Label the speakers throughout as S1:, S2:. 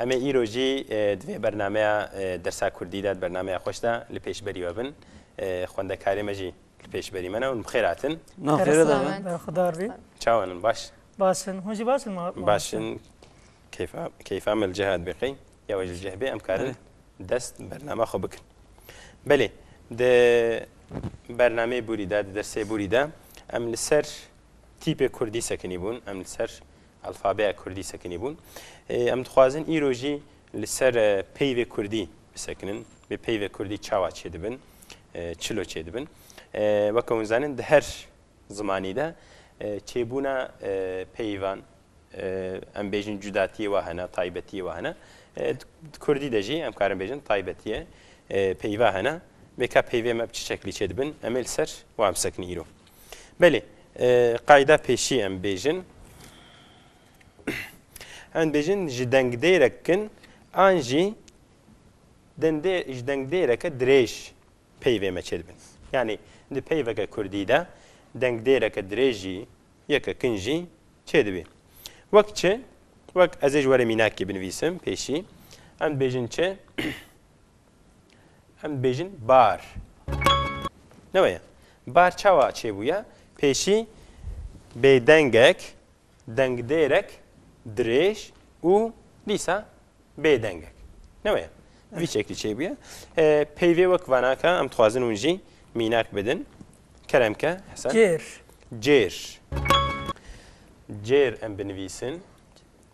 S1: Em ê îro jî di vê bernameya Dersa Kurdî de, di bernameya xweş de li pêşberî we bin. Xwendekarê me jî li pêşberî me ne hûn bi xêr hatin. Na xêr e dave.
S2: Berxwedar bî. Çawan
S3: in baş?
S1: Baş in. Hûn jî baş
S3: in ma? Baş in.
S1: Keyfa keyfa me li ciha dibê qey. Ya we jî li cih bê em karin dest bi bername xwe bikin. Belê di bernameyê Bûrî de di dersê Bûrî de em li ser tîpê Kurdî sekinî bûn. Em li ser Alfabeya Kurdî sekinîbûn. Em dixwazin îro jî li ser peyvê Kurdî bisekinin. Bi peyvê Kurdî çawa çêdibin, çilo çêdibin. Weke hûn zanin di her zimanî de çêbûna peyvan em bêjin cudatiyê wa hene, taybetiyê wa hene. Di Kurdî de jî em karin bêjin taybetiye peyva hene. Vêka peyvê me bi çi şeklî çêdibin em ê li ser wan bisekinî îro. Belê, qayda pêşî em bêjin. Em bêjin ji dengdêrek kin an jî ji dengdêreke dirêj peyvê me çêdibin. Yanî di peyveke kurdî de dengdêreke dirêj jî yeke kin jî çêdibî. Wek çi? Wek ez ê ji we re mînakê binivîsim pêşî. Em dibêjin çi? Em dibêjin bar. Ne weye. Bar çawa çêbûye? Pêşî bêdengek, dengdêrek dirêj û dîsa bêdengek. Ne weye. Vî şeklî çêbûye. Peyvê wek vanaka em dixwazin hûn jî mînak bidin. Kerem ke Hesen. Cêr. Cêr. Cêr em binivîsin.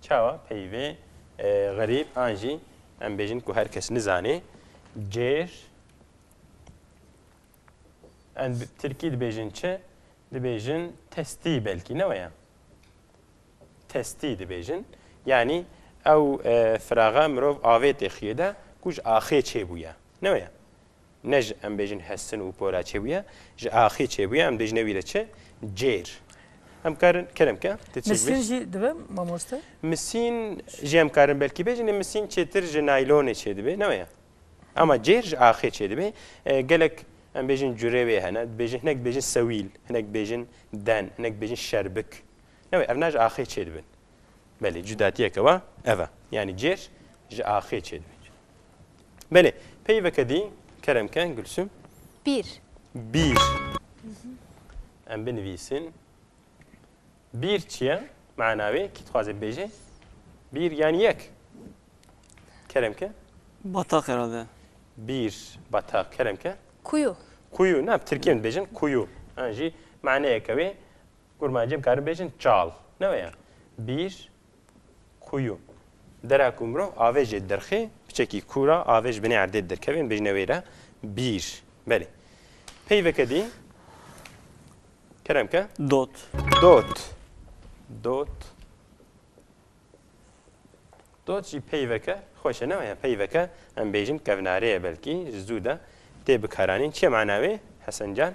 S1: Çawa peyvê xerîb an jî em bêjin ku her kes nizanê cêr em bi tirkî dibêjin çi? Dibêjin testî belkî ne weye. Testî dibêjin. Yanî ew firaxa mirov avêtê xiyê de ku ji axê çêbûye. Ne weye. Ne ji em bêjin hestin û pora çêbûye, ji axê çêbûye em dêjine wî re çi? Cêr. Em karin kerem ke tu çêbû. Misîn jî dibe
S3: mamoste? Misîn
S1: jî em karin belkî bêjin ê misîn çêtir ji naylonê çêdibê ne waya? Ama cêr ji axê çêdibê. Gelek em bêjin curê wê hene, dibêjin hinek dibêjin sewîl, hinek dibêjin den, hinek dibêjin şerbik. Ne wê evna ji axê çêdibin. Belê cudatiyeke wa ev e. Yanî cêr ji axê çêdibê. Belê. Peyveke dî kerem ke Gulsum. Bîr. Bîr. Em binivîsin. Bîr çi ye? Mana wê kî dixwaze bibêje? Bîr yan yek. Kerem ke? Bataq herhalde.
S2: Bîr,
S1: bataq. Kerem ke? Kuyu. Kuyu.
S4: Ne, Tirkiye dibêjin
S1: kuyu. An jî maneyeke wê kurmancê bikarin bêjin çal. Ne wê ya? Bîr, Kuyu. Dera ku mirov avêjê dirxê, piçekî kûr a, avêj binê erdê dirkevên bêjine wê re bîr. Belê. Peyveke dî. Kerem ke. Dot. Dot. Dot. Dot jî peyveke xweş e, ne waya peyveke em bêjin kevnarê ye belkî ji zû de tê bikaranîn. Çi ye mana wê Hesen can?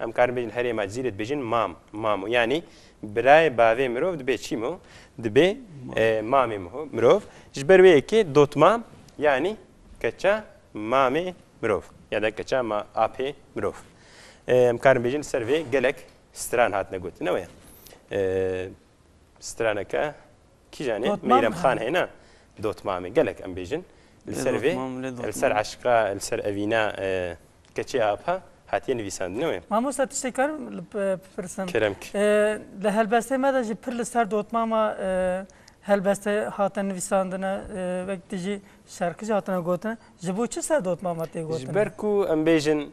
S1: Em karin bêjin herê ma cî rê dibêjin mam, mamo. Yanî birayê bavê mirov dibê çî mo? Dibê mamê mo. Mirov ji ber wê yekê dotmam yanî keça mamê mirov ya da keça ma apê mirov. Em karin bêjin ser vê gelek stran hatine gotin. Newe ye straneke Kîjan e? Meyrem Xan he na? Dotmam e. Gelek em bêjin. Li ser vê, li ser eşqa, li ser evîna keçê apa hatiye nivîsandin ew ê. Mamosta tiştê karim
S3: li bipirsim? Kerem kî.
S1: Li helbestê
S3: me de jî pir li ser dotmama helbeste hatine nivîsandine wek tu jî şerqî
S1: jî hatine
S3: gotin. Ji bo çi
S1: ser
S3: dotmama tê gotin? Ji ber ku em
S1: bêjin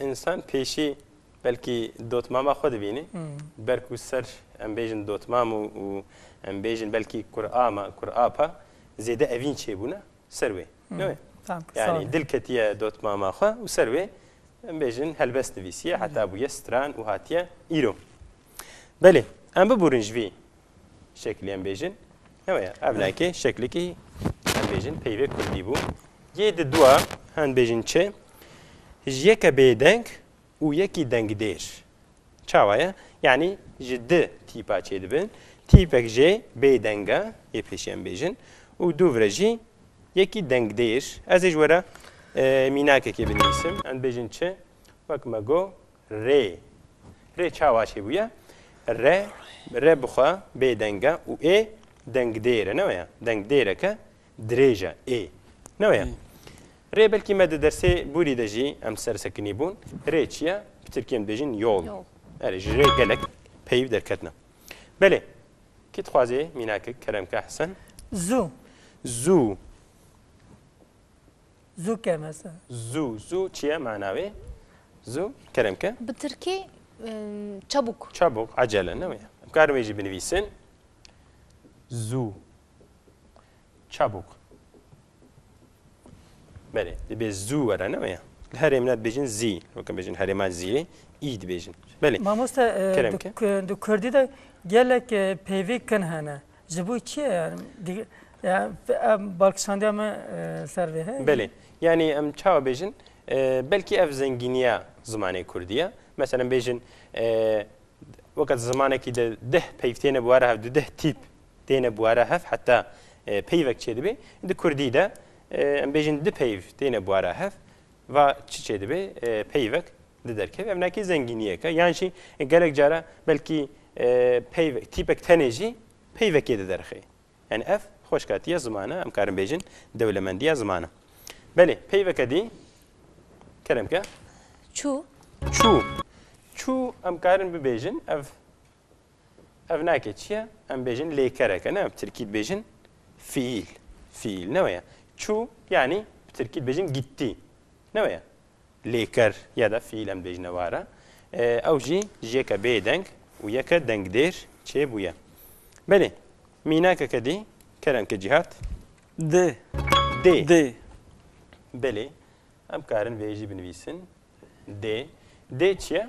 S3: însan
S1: pêşî Belkî dotmama xwe dibînî. Ber ku ser em bêjin dotmam û em bêjin belkî kurama, kurapa zêde evîn çêbûne ser wê. Ne wê? Yanî dil
S3: ketiye
S1: dotmama xwe û ser wê em bêjin helbest nivîsiye heta bûye stran û hatiye îro. Belê em biburin ji vî şeklê em bêjin ne wê ev nayekê şeklekî em bêjin peyvê kurdî bû. Yê di dua hem bêjin çi ji yeke bêdeng û yekî dengdêr. Çawa ye? Yanî ji di tîpa çêdibin. Tîpek jê bêdeng e, yê pêşî em bêjin û dûv re jî yekî dengdêr. Ez ê ji we re mînakekê binivîsim. Em dibêjin çi? Wek me got rê. Rê çawa çêbûye? Re, re bi xwe bêdeng e û ê dengdêr e. Ne waya? Dengdêreke Dirêj e, ê. Ne wê ye. Rê belkî me di dersê bûrî de jî em ser sekinî bûn. Rê çi ye? Bi tirkî em dibêjin yol. Erê ji rê gelek peyv derketine. Belê. Kî dixwazê mînakik kerem ke Hesen? Zû. Zû.
S3: Zû ke mesela. Zû. Zû çi ye
S1: mana wê? Zû kerem ke? Bi tirkî
S4: çabûk. Çabûk, ecele
S1: ne wê ye. Em karin wê jî binivîsin. Zû. Çabuk. Belê, dibê zû were ne weye? Li herêm ne dibêjin zî, weke bêjin herêma zîyê î dibêjin. Belê. Mamoste
S3: di
S1: kurdî de
S3: gelek peyvê kin hene. Ji bo çi ye yani? Balkişandiya me ser vê heye? Belê. Yani em
S1: çawa bêjin? Belkî ev zengîniya zimanê kurdî ye. Meselem bêjin weke zimanekî de deh peyv têne bi were hev du deh tîp têne bûere hev heta peyvek çêdibê di kurdî de em bêjin di peyv têne bûere hev va çi çêdibê peyvek di derkevê ev nekî zengîniyeke yan jî gelek cara belkî peyv tîpek tenê jî peyvekê di derxê yani ev xweşkatiya zimane em karin bêjin dewlemendiya zimane belê peyveke dî keremke çû
S4: çû
S1: çû em karin bibêjin ev Ev nake çi ye? Em bêjin lêkereke ne bi tirkî dibêjin fiîl. Fiîl ne weye. Çû yanî bi tirkî dibêjin gittî. Ne weye. Lêker ya da fiîl em dibêjine wara. Ew jî ji yeke bêdeng û yeke dengdêr çêbûye. Belê. Mînakeke dî kerem ke cîhat. Dê.
S2: Dê. Dê.
S1: Belê. Em karin vê jî binivîsin. Dê. Dê çi ye?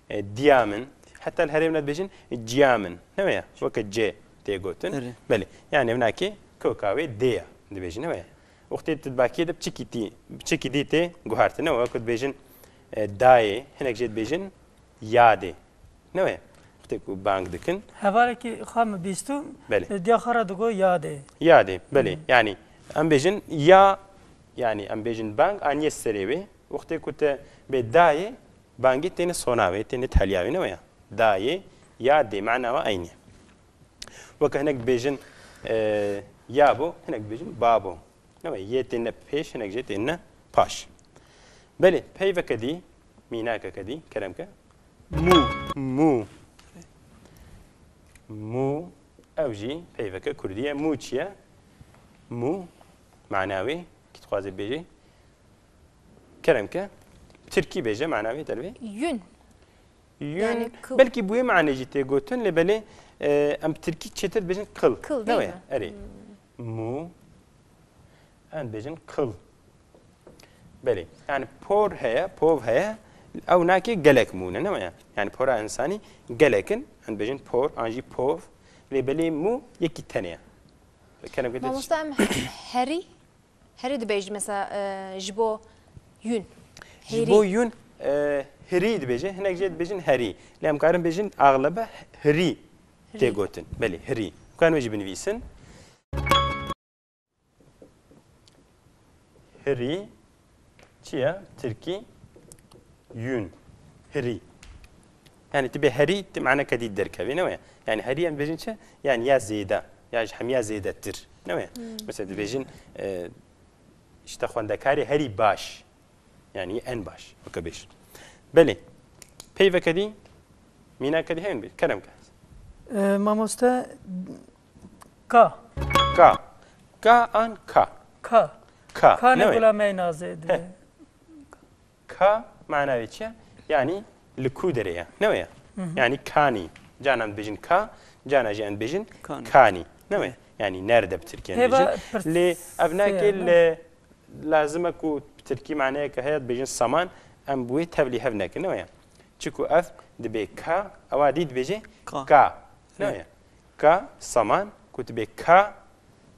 S1: Diya min, heta li herêmê dibêjin ciya min, ne waya? Weke cê tê gotin. Belê. Yanî min akê koka wê dê ya dibêjin, ne waya? Wextê tu di bakiyê de biçikî dî tê guhertin, ne waya? Ku dibêjin dayê, hinek jê dibêjin yadê, ne waya? Wextê ku bang dikin. Hevalekî xwe min
S3: bîstû, diya xwe re digot yadê. Yadê, belê.
S1: Yanî em bêjin ya, yanî em bêjin bang aniye serê wê. Wextê ku tu bê dayê, Bangî têne sona wê, têne tehliya wê ne weya? Dayê, ya dê mana we eynî ye. Weke hinek dibêjin ya bo, hinek dibêjin ba bo. Ne we yê têne pêş, hinek jê têne paş. Belê peyveke dî, mînakeke dî kerem ke mû, mû. Mû ew jî peyveke kurdî ye. Mû çi ye? Mû mana wê kî dixwaze bibêje Kerem ke Tirkî bêje mana wê dervê. Yün.
S4: Yün. Belkî bûyê manê jî tê
S1: gotin lê belê em bi Tirkî çêtir dibêjin kıl. Kıl değil mi? Erê. Mû em dibêjin kıl. Belê. Yani por heye, pov heye ew nakê gelek mûne ne ya. Yani pora insanî gelekin em dibêjin por an jî pov lê belê mû yekî tenê. Mamosta em
S4: herî Herî dibêjî mesela ji bo yûn. Ji bo
S1: yûn hirî dibêjin, hinek jê dibêjin herî. Lê em karin bêjin axlebe hirî tê gotin. Belê hirî. Dikarin wê jî binivîsin. Hirî çi ye? Tirkî yûn. Hirî. Yanî tu bê herî ti maneke dî derkevê ne weye. Yanî herî em dibêjin çi? Yanî ya zêde ya ji hemiya zêdetir ne weye. Misal dibêjin işte xwendekarê herî baş yanî en baş weke bêj. Belê peyveke dî mînake dî heyn bê kerem ke. Mamoste
S3: ka. Ka.
S1: Ka an ka. Ka. Ka.
S3: Ka ne
S1: gula meynazê
S3: dibê.
S1: Ka mana wê çi ye? Yanî li ku derê ye. Ne wê ye? Yanî kanî. Canan em dibêjin ka, canan jî em dibêjin kanî. Ne wê ye? Yanî nerde bi tirkî em dibêjin. Lê ev nake li lazim e ku bi tirkî maneyeke heye dibêjin saman em bi wê tevlî hev nekin. Ne wê ye? Çiku ev dibê ka ewa dî dibêje ka. Ne wê ye? Ka saman ku dibê ka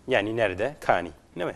S1: yanî nerde kanî. Ne wê ye?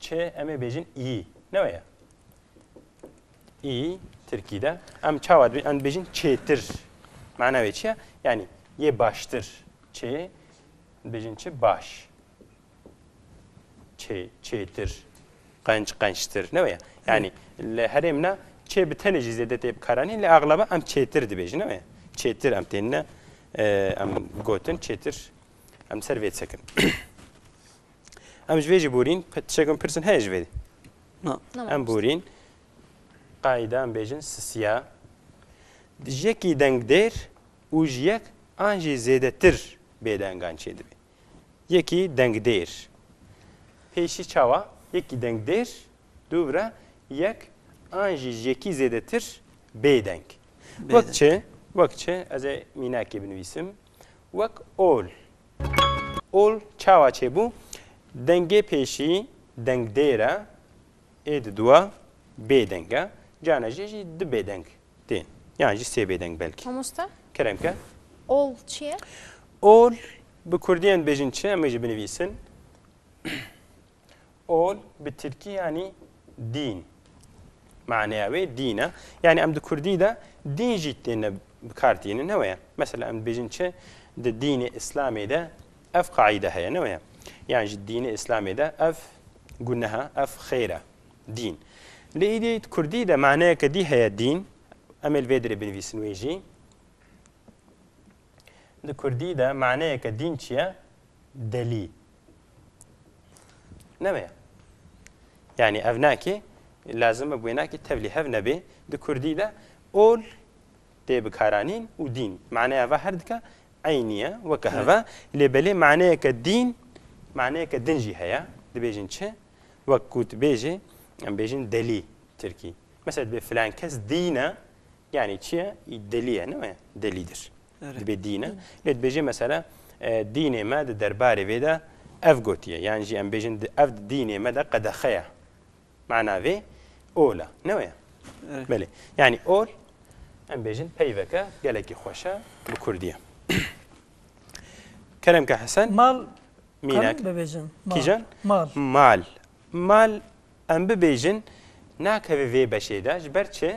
S1: Çi em ê bêjin î. Ne weye. Î Tirkî de em çawa dibêjin? Em dibêjin çêtir. Mana wê çi ye? Yanî yê baştir. Çê dibêjin çi baş. Çê çêtir. Qenç qençtir. Ne weye. Yanî li herêm ne çê bi tenê jî zêde tê bikaranîn lê axlaba em çêtir dibêjin. Ne weye. Çêtir em têne em gotin çêtir em ser vê disekin. Em ji vê jî borîn, tişek em pirsin heye ji vê. Na. Em borîn. Qaîda em bêjin sisiya. Ji yekî dengdêr û ji yek an jî zêdetir bêdengan çê dibê. Yekî dengdêr. Pêşî çawa? Yekî dengdêr, dûvira yek an jî ji yekî zêdetir bêdeng. Wek çi? Wek çi? Ez ê mînakê binivîsim. Wek ol. Ol çawa çêbû? Dengê pêşî dengdêr e, ê di dûa bêdeng e, carna jê jî du bêdeng tên yan jî sê bêdeng belkî. Mamoste? Kerem ke. Ol çi
S4: ye? Ol
S1: bi kurdîyan dibêjin çi? Em ê jî binivîsin. Ol bi tirkî yanî dîn. Maneya wê dîn e. Yanî em di kurdî de dîn jî têne bi kar tînin ne weye. Mesela em dibêjin çi di dînê îslamê de ev qaîde heye ne weye. Yan ji dînê îslamê de ev guneha ev xêr e. Dîn. Lê îdî di kurdî de maneyeke dî heye dîn. Em ê li vê dirê binivîsin wê jî. Di kurdî de maneyeke dîn çi ye? Delî. Nemeye. Yani ev nakê lazim e wênakê tevlî hev nebê di kurdî de ol tê bikaranîn û dîn maneya va her dika eynî ye weke heve lê belê maneyeke dîn maneyeke din jî heye dibêjin çi wek ku dibêjê em bêjin delî tirkî mesela dibê filan kes dîn e yanî çi ye delî ye ne delîdir. dibê dîn e. Lê dibêje mesela dînê me di derbarê vê de ev gotiye yan jî em bêjin ev di dînê me de qedexe ye. Mana vê ol e. Ne weye? Belê. Yanî ol em bêjin peyveke gelekî xweş e bi kurdî. Kerem ke Hesen mal
S3: mînak
S1: bibêjin.
S3: Kîjan? Mal.
S1: Mal. Mal em bibêjin nakeve vê beşê de ji ber çi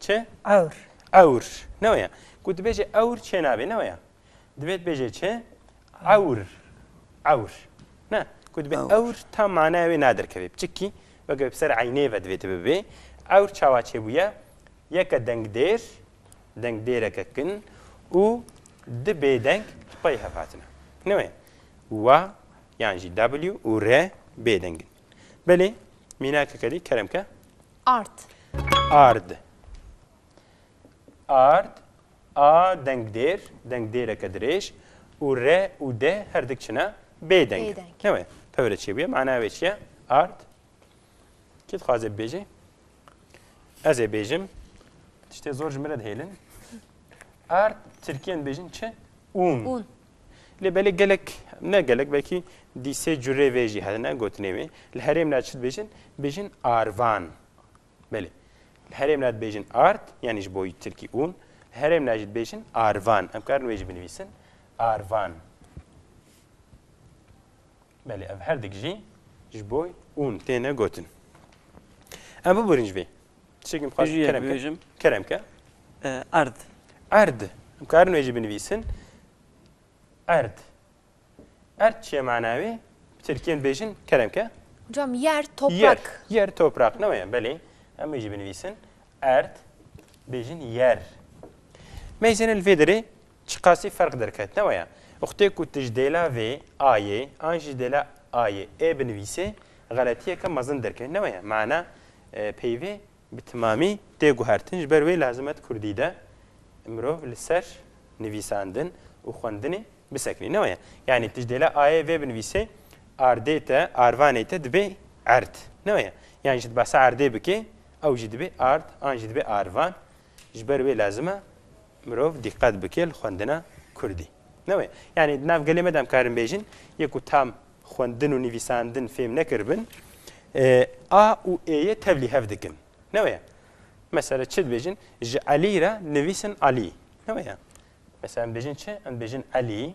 S1: Çi? Ewr.
S3: Ewr.
S1: Ne waya. Ku dibêje ewr çê nabê. Ne waya. Divê dibêje çi? Ewr. Ewr. Ne. Ku dibê ewr tam manaya wê naderkevê. Piçikî weke bi ser eynê ve divê tibibê. Ewr çawa çêbûye? Yeke dengdêr, dengdêreke kin û di bêdeng li xwe yê hevhatine. Ne waya. Wa yan jî W û R bêdeng in. Belê, mînake kedî kerem ke. Ard.
S4: Ard.
S1: Ard. A deng dêr, deng dêreke dirêj û re û de her dik çine bêdeng. Bêdeng. Newê, pevre çi bûye, mana wê çi ye? Ard. Kê dixwaze bibêje? Ez ê bêjim. Tiştê zor ji min re dihêlin. Ard, Tirkiyên dibêjin çi? Un. Un.
S4: Lê belê
S1: gelek, ne gelek belkî dî sê curê vê jî hene gotinê wê. Li herêm de çi dibêjin? Bêjin arvan. Belê. Li herêm de dibêjin art, yanî ji bo yî tirkî ûn. Li herêm de jî dibêjin arvan. Em karin wê jî binivîsin. Arvan. Belê ev herdik jî ji bo ûn têne gotin. Em biborîn ji vê. Çikim xas Jiyê kerem ke. bibêjim. Kerem ke. Eh, Erd.
S2: Erd.
S1: Em karin wê jî binivîsin. Erd. Erd çi ye mana wê? Bi Tirkiyên bêjin kerem ke. Hocam yer, Yer.
S4: toprak. Yer toprak ne
S1: weye belê. Em wê jî binivîsin. Erd. Bêjin yer. Meyzên li vê derê Çiqasî ferq derket, ne waya? Uxtê ku tu ji dêla vê, a yê, an jî ji dêla a yê, ê binivîsê, xeletiyeke mezin derkeve, ne waya? Mana peyvê bi timamî tê guhertin, ji ber wê lazim e di kurdî de mirov li ser nivîsandin û xwendinê bisekinî, ne waya? Yanî tu ji dêla a yê vê binivîsê, ardê te, arvanê te dibê erd, ne waya? Yan jî tu behsa erdê bikê, ew jî dibê ard, an jî dibê arvan, Ji ber wê lazim e mirov dîqet bike li xwendina kurdî. Ne wê? Yanî di nav gelê me de em karin bêjin yê ku tam xwendin û nivîsandin fêm nekiribin a û êyê tevlî hev dikin. Ne wê? Mesela çi dibêjin? Ji Elî re nivîsin Alî. Ne wê? Mesela em dibêjin çi? Em dibêjin Elî.